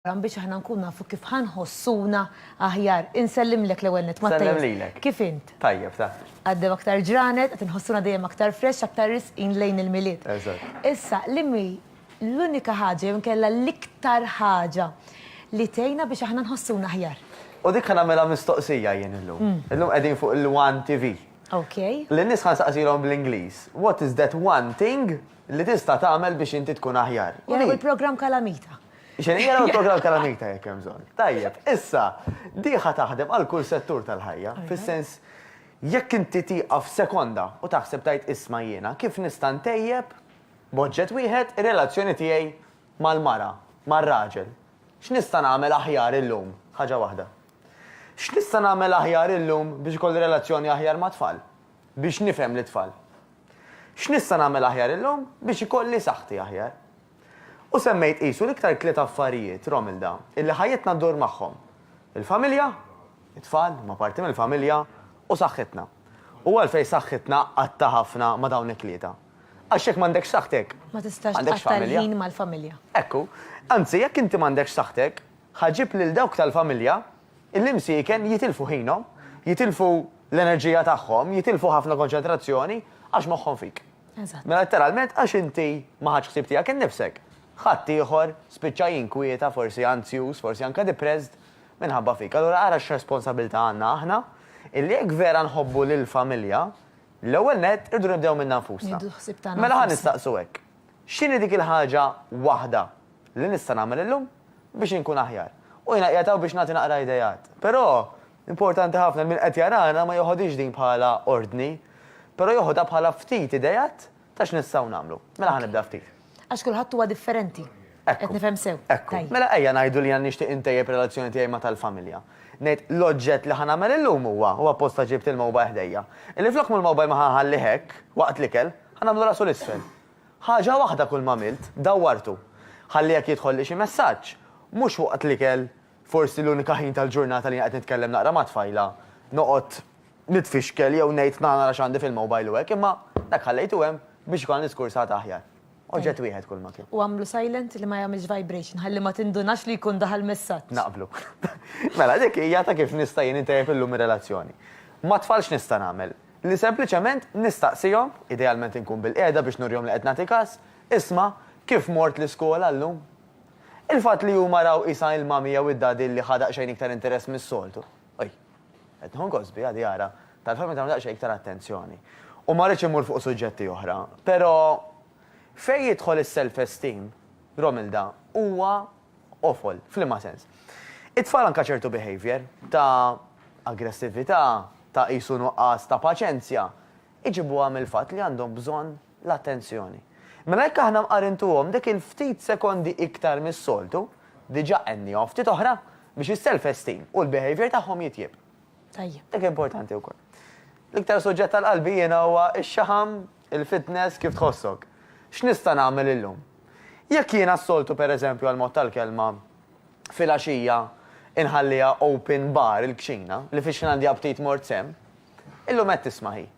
programm biex aħna nkunu nafu kif ħa nħossuna aħjar. Insellimlek l-ewwel nett, Matteus. Nsellem lilek. Kif int? Tajjeb, ta. Għaddew aktar ġranet, qed inħossuna dejjem aktar fresh, aktar risqin lejn il-Milied. Eżatt. Issa, l-immi l-unika ħaġa jew inkella l-iktar ħaġa li tgħinna biex aħna nħossuna aħjar? U dik ħa nagħmilha mistoqsija jien illum. Illum qegħdin fuq il-One TV. Okej. Lin-nies ħa nsaqsilhom bl-Ingliż, what is that one thing li tista' tagħmel biex inti tkun aħjar? U Jaraw li- il-programm Kalamita. Xejn jaraw il-programm tal-Anita jekk hemm bżonn. Tajjeb, issa diħa taħdem għal kull settur tal-ħajja, fis-sens jekk inti tieqaf sekonda u taħseb tgħid isma' jiena kif nista' ntejjeb b'oġġett wieħed ir-relazzjoni tiegħi mal-mara, mar-raġel. X'nista' nagħmel aħjar illum? Ħaġa waħda. X'nista' nagħmel aħjar illum biex ikolli relazzjoni aħjar mat-tfal? Biex nifhem lit-tfal. X'nista' nagħmel aħjar illum biex ikolli saħħti aħjar? U semmejt qisu l-iktar tliet affarijiet, Romilda, illi ħajjitna ddur magħhom, il-familja, it-tfal, huma parti mill-familja, u saħħitna. U għalfejn saħħitna qatta ħafna ma' dawn it-tlieta? Għax jekk m'għandekx saħħtek, Ma tistax m'għandekx tqatta' familja. l-ħin mal-familja. Ekku. Anzi, jekk inti m'għandekx saħħtek, ħa ġib lil dawk tal-familja illi msieken jitilfu ħinhom, jitilfu l-enerġija tagħhom, jitilfu ħafna konċentrazzjoni għax moħħhom fik. Mela letteralment għax inti ma ħadtx ħsieb tiegħek innifsek, ħadd ieħor spiċċa jinkwieta, forsi anzjuż, forsi anke depressed minħabba fik. Allura ara x'responsabbiltà għandna aħna illi jekk vera nħobbu lill-familja, l-ewwel nett irridu nibdew minna nfusna. Mela ħa nistaqsu hekk, x'inhi dik il-ħaġa waħda li nista' nagħmel illum biex inkun aħjar? U jiena qiegħed hawn biex nagħti naqra ideat. Però Importanti ħafna li min qed jarana ma jeħodhiex din bħala ordni, però jeħodha bħala ftit ideat ta' x'nistgħu nagħmlu. Mela ħa nibda ftit. Għax kulħadd huwa differenti. Ekku. Qed nifhem sew. Ekku. Tajjeb. Mela ejja ngħidu li jiena nixtieq intejjeb ir-relazzjoni tiegħi ma' tal-familja. Ngħid, l-oġġett li ħa nagħmel illum huwa, u apposta ġibt il-mobile ħdejja, illi flok mhu l-mobile ma ħa nħallih hekk, waqt l-ikel, ħa nagħmlu rasu 'l isfel. Ħaġa waħda kull m'għamilt, dawwartu. Ħalli jekk jidħolli xi messaġġ, mhux waqt l-ikel Forsi l-unika ħin tal-ġurnata li jien qed nitkellem naqra ma' tfajla, noqgħod nitfixkel jew ngħid tna' nara x'għandi fil-mobile u hekk, imma dak ħallejtu hemm biex ikollna diskors għad aħjar. Oġġett wieħed kulma kien. U għamlu silent li ma jagħmilx vibration ħalli ma tindunax li jkun daħal messaġġ. Naqblu. Mela dik hija ta' kif nista' jien intejjeb illum ir-relazzjoni. Mat-tfal x'nista' nagħmel? Li sempliċement nistaqsihom, idealment inkun bilqiegħda biex nurihom li qed nagħti kas, Isma', kif mort l-iskola llum? Il-fatt li huma raw qisha il-mommy jew id-daddy li ħa daqsxejn iktar interess mis-soltu. Oj. Qed nieħu gost biha li ara, tal-fatt meta nagħmlu daqsxejn iktar attenzjoni. U ma rridx immur fuq suġġetti oħra, però fejn jidħol is-self-esteem, Romilda, huwa awful. F'liema sens? It-tfal anke ċertu behaviour, ta' aggressività, ta' qisu nuqqas ta' paċenzja, iġibuha mill-fatt li għandhom bżonn l-attenzjoni. Mela jekk aħna mqarintuhom dik il-ftit sekondi iktar mis-soltu, diġà qenniehom ftit oħra biex is-self esteem u l-behaviour tagħhom jitjieb. Tajjeb. Dik importanti wkoll. L-iktar suġġett tal-qalbi jiena huwa x-xaħam, il-fitness, kif tħossok. X'nista' nagħmel illum? Jekk jiena s-soltu pereżempju għall-mod tal-kelma filgħaxija inħalliha open bar il-kċina, li fix-xina għandi aptit mort sehem, illum qed tisma' hi.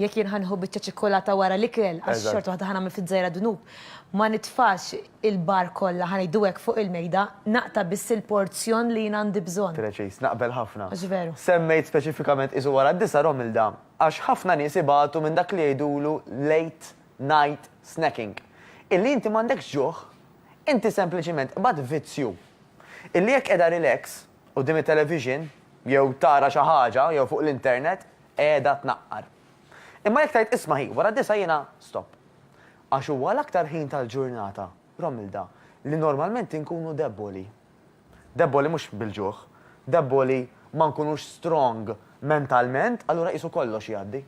Jekk jien ħa nieħu biċċa ċikkulata wara l-ikel, għax xorta waħda ħa nagħmel fiż-żgħira dnub, ma nitfax il-bar kollha, ħa ngħidu hekk, fuq il-mejda, naqta' biss il-porzjon li jien għandi bżonn. Preċiż, naqbel ħafna. Għax veru. Semmejt speċifikament qisu wara d-disgħa, Romilda, għax ħafna nies ibatu minn dak li jgħidulu late night snacking. Illi inti m'għandekx ġuħ, inti sempliċiment qbadt vizzju. Illi jekk qiegħda relax, quddiem it-television, jew tara xi ħaġa, jew fuq l-internet, qiegħda tnaqqar. Imma jekk tgħid isma' hi, wara d-disgħa jiena stop. Għax huwa l-aktar ħin tal-ġurnata, Romilda, li normalment inkunu debboli. Debboli mhux bil-ġuħ, debboli ma nkunux strong mentalment, allura qisu kollox jgħaddi.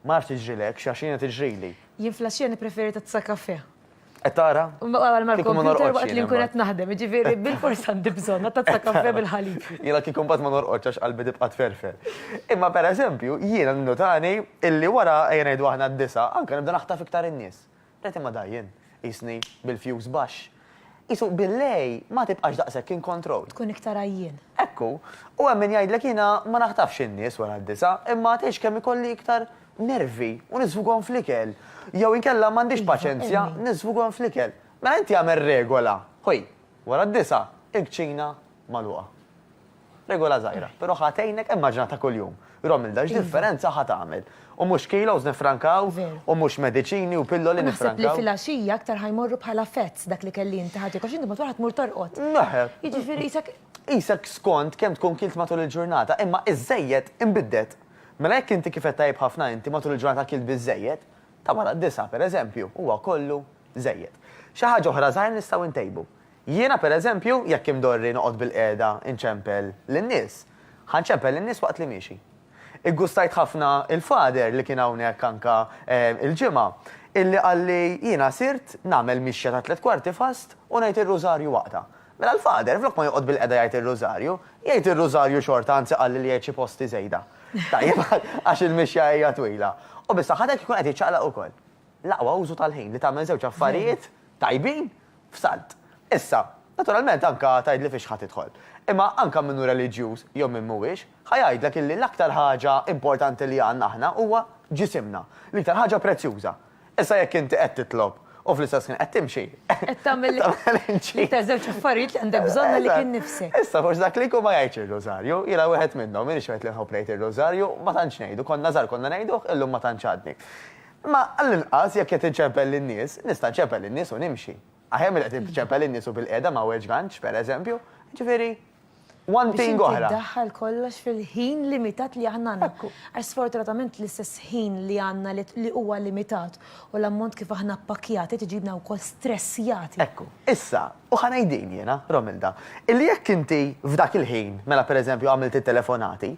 Ma nafx tiġrilekx, għax jiena tiġrili. Jien fl-għaxija nippreferi tazza kafè. Qed tara? Wara ma Kieku ma l-kompjuter norqodx waqt li jien nkun qed imbagħad. naħdem, jiġifieri bil-fors għandi bżonn għad tazza kafè bil-ħalib. Jiena kieku mbagħad ma norqodx għax qalbi tibqa' tferfer. Imma pereżempju, jiena minnu tani illi wara, ejja ngħidu aħna d-disgħa, anke nibda naħtaf iktar in-nies. Ngħid imma da jien, qisni bil-fuse baxx. Qisu bil-lej ma tibqax daqshekk in control. Tkun iktar għajjien. Ekku. U hemm min jgħidlek jiena ma naħtafx in-nies wara d-disgħa, imma tgħix kemm ikolli iktar nervi u niżfughom fl-ikel. Jew inkella m'għandix paċenzja, niżfughom fl-ikel. Mela inti agħmel regola, ħuj, wara d-disgħa, il-kċina magħluqa. Regola żgħira, però ħa tgħinek, immaġina ta' kuljum. Romilda, x'differenza ħa tagħmel? U mhux kilos niffrankaw, u mhux mediċini u pilloli niffrankaw. U naħseb li filgħaxija aktar ħa jmorru bħala fats dak l-ikel li inti ħa tiekol, għax inti matul ħa tmur torqod. Jiġifieri qisek. Qisek skont kemm tkun kilt matul il-ġurnata, imma iż-żejjed inbidded. Mela jekk inti kifet tajjeb ħafna inti matul il-ġurnata akilt biżżejjed, ta' wara d-disgħa, per eżempju, huwa kollu żejjed. Xi ħaġa oħra żgħira nistgħu ntejbu. Jiena, per eżempju, jekk imdorri noqgħod bilqiegħda nċempel lin-nies, ħa nċempel lin-nies waqt li miexi. Iggustajt ħafna il-Father li kien hawnhekk anke il-Ġimgħa, illi qalli jiena sirt nagħmel mixja ta' tliet kwarti fast u ngħid ir-Rużarju waqtha. Mela l-Father, flok ma joqgħod bilqegħda jgħid ir-Rużarju, jgħid ir-Rużarju xorta anzi qalli li jgħid xi posti żejda. Tajjeb, għax il-mixja hija twila. U bis-saħħatek ikun qed jiċċaqlaq ukoll. L-aqwa użu tal-ħin li tagħmel żewġ affarijiet tajbin f'salt. Issa, naturalment anke tgħidli fiex ħa tidħol. Imma anke min hu reliġjuż jew min mhuwiex, ħa jgħidlek illi l-aktar ħaġa importanti li għandna aħna huwa ġisimna, l-iktar ħaġa prezzjuża. Issa jekk inti qed titlob u fl-istess ħin qed timxi. Qed tagħmel l-iktar żewġ affarijiet li għandek bżonn għalik innifsek. Issa forsi dak li jkun ma jgħidx ir-Rużarju, jiena wieħed minnhom, minix wieħed li nħobb ngħid ir-Rużarju, ma tantx ngħidu, konna żgħar konna ngħiduh, illum ma tantx għadni. Imma għall-inqas jekk qed inċempel lin-nies, nista' nċempel lin-nies u nimxi. Aħjar milli qed iċċempel in-nies u bilqiegħda ma weġgantx, pereżempju. Jiġifieri, one thing oħra. Biex inti ddaħħal kollox fil-ħin limitat li aħna għandna. Għax sfortunatament l-istess ħin li għandna li huwa limitat u l-ammont kif aħna ppakkjati tiġibna wkoll stressjati. Ekku. Issa, u ħa ngħid din jiena, Romilda, illi jekk inti f'dak il-ħin, mela pereżempju għamilt it-telefonati,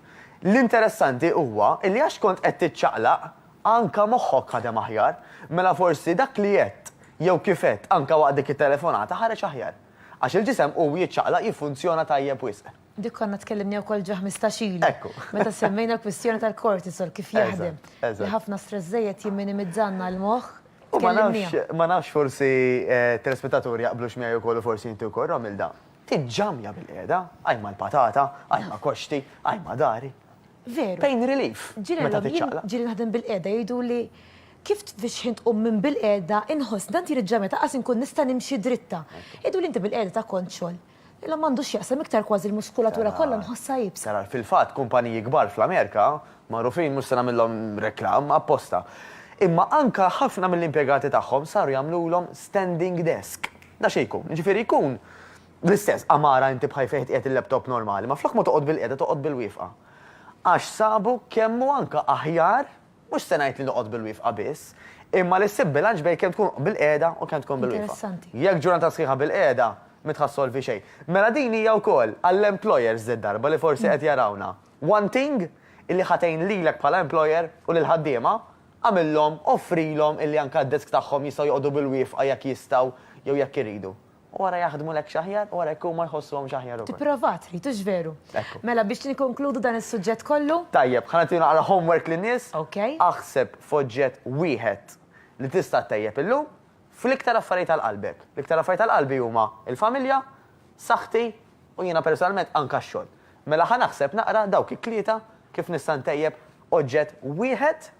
l-interessanti huwa illi għax kont qed tiċċaqlaq Anka moħħok ħadem aħjar. Mela forsi dak li għedt, jew kif għedt, anka waqt dik it-telefonata ħareġ aħjar. Għax il-ġisem u jiċċaqlaq jiffunzjona tajjeb wisq. Dik konna tkellimniha wkoll ġo ħmistax ilu. Ekku. Meta semmejna l-kwistjoni tal-cortisol, kif jaħdem. Eżatt, eżatt. Li ħafna stress żejjed jimminimizzalna l-moħħ, tkellimniha. U ma nafx, ma nafx forsi telespettaturi jaqblux miegħi wkoll u forsi inti wkoll Romilda. Tinġamja bilqiegħda, ajma l-patata, ajma koxti, ajma dari. Veru. Pain relief. Meta tiċċaqlaq. Ġieli naħdem bilqiegħda jgħiduli kif tfixħin tqum minn bilqiegħda inħossni tant jrid ġamja ta' qas inkun nista' nimxi dritta. Jgħiduli inti bilqiegħda ta' kont xogħol. Ilhom m'għandu x'jaqsam iktar kważi l-muskulatura kollha nħossha iebsa. Tara, fil-fatt kumpaniji kbar fl-Amerika magħrufin mhux se nagħmillhom reklam apposta. Imma anke ħafna mill-impjegati tagħhom saru jagħmlulhom standing desk. Da xi jkun, jiġifieri jkun l-istess għamara inti b'ħaj fejn tqiegħed il-laptop normali, ma flok ma toqgħod bil-qiegħda toqgħod bil-wiefqa. Għax sabu kemm hu anke aħjar, mhux se ngħid li noqgħod bil-wiefqa biss, imma li ssib bilanċ bejn kemm tkun bil-qiegħda u kemm tkun bil-wiefqa. Interessanti. Jekk ġurnata sħiħa bil-qiegħda, m'intħa ssolvi xejn. Mela din hija wkoll għall-employers d-darba li forsi qed jarawna. One thing illi ħa tgħin lilek bħala employer u lill-ħaddiema, agħmilhom, offrilhom illi anke d-desk tagħhom jistgħu joqogħdu bil-wiefqa jekk jistgħu jew jekk iridu. U ara jaħdmulekx aħjar u ara jekk huma jħossuhomx aħjar ukoll. Tipprova trid, hux veru? Ekku. Mela biex nikkonkludu dan is-suġġett kollu. Tajjeb, ħa nagħti naqra homework lin-nies. Ok. Aħseb f'oġġett wieħed li tista' ttejjeb illum fl-iktar affarijiet għal qalbek. L-iktar affarijiet għal qalbi huma l-familja, saħħti U jiena personalment anka x-xogħol. Mela ħa naħseb naqra dawk it-tlieta kif nista' ntejjeb oġġett wieħed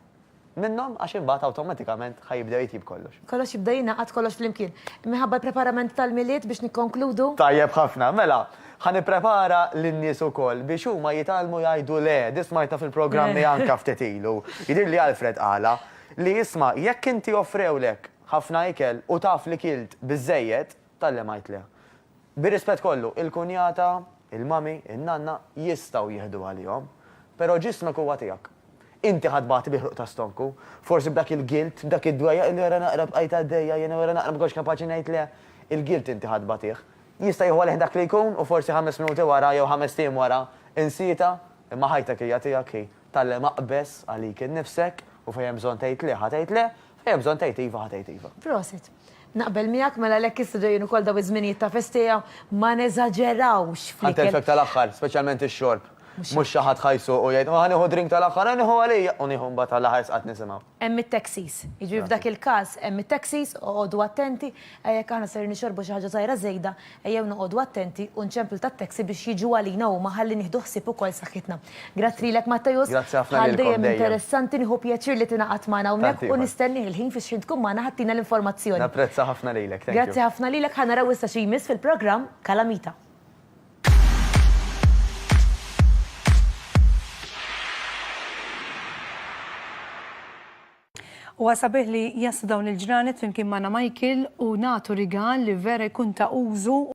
minnhom għax imbagħad awtomatikament ħa jibdew jitjieb kollox. Kollox jibda jingħaqad kollox flimkien. Minħabba l-preparament tal-Milied biex nikkonkludu. Tajjeb ħafna. Mela, ħa nipprepara lin-nies ukoll biex huma jitgħallmu jgħidu le. Din smajtha fil-programmi anka ftit ilu. Jidhirli Alfred qalha li isma' jekk inti offrewlek ħafna ikel u taf li kilt biżżejjed, Talli ma jitliha. Bir-rispett kollu, il-kunjata, il-mommy, in-nanna jistgħu jieħdu għalihom. Però ġismek huwa tiegħek. Inti ħa tbati bi ħruq ta' stonku. Forsi b'dak il-gilt, b'dak id-dwejjaq illi wara naqra bqajt għaddejja, jiena wara naqra ma kontx kapaċi ngħid le. Il-gilt inti ħa tbatih. Jista' jieħu għalih dak li jkun u forsi ħames minuti wara jew ħamest ijiem wara insietha, imma ħajtek hija tiegħek hi. Tgħallem aqbeż għalik innifsek u fejn hemm bżonn tgħid le, ħa tgħid le, fejn hemm bżonn tgħid iva, ħa tgħid iva. Prosit. Naqbel miegħek, mela għalhekk issa ġejjin ukoll dawn iż-żminijiet ta' festija, ma neżaġerawx fl-ikel. Ħa ntelfek tal-aħħar, speċjalment ix-xorb. Mhux xi ħadd ħa jsuq u jgħid, ħa nieħu drink tal-aħħar, ħa nieħu għalija u nieħu mbagħad għall-aħħar sqat nisimgħu. Hemm it-taxis. Jiġifieri f'dak il-każ hemm it-taxis, oqogħdu attenti, ejja jekk aħna ser nixorbu xi ħaġa żgħira żejda, ejjew noqogħdu attenti u nċemplu tat-taxi biex jiġu għalina huma ħalli nieħdu ħsieb ukoll saħħitna. Grazzi lilek Matteus. Grazzi ħafna lilkom dejjem. Bħal dejjem interessanti, nieħu pjaċir li tingħaqad magħna hawnhekk u nistennieh il-ħin fiex ħin tkun magħna ħattina l-informazzjoni. Napprezza ħafna lilek. Thank you. Grazzi ħafna lilek. Ħa naraw issa xi jmiss fil-programm Kalamita. Huwa sabiħ li jaslu dawn il-ġranet flimkien magħna Michael u nagħtu rigal li vera jkun ta' użu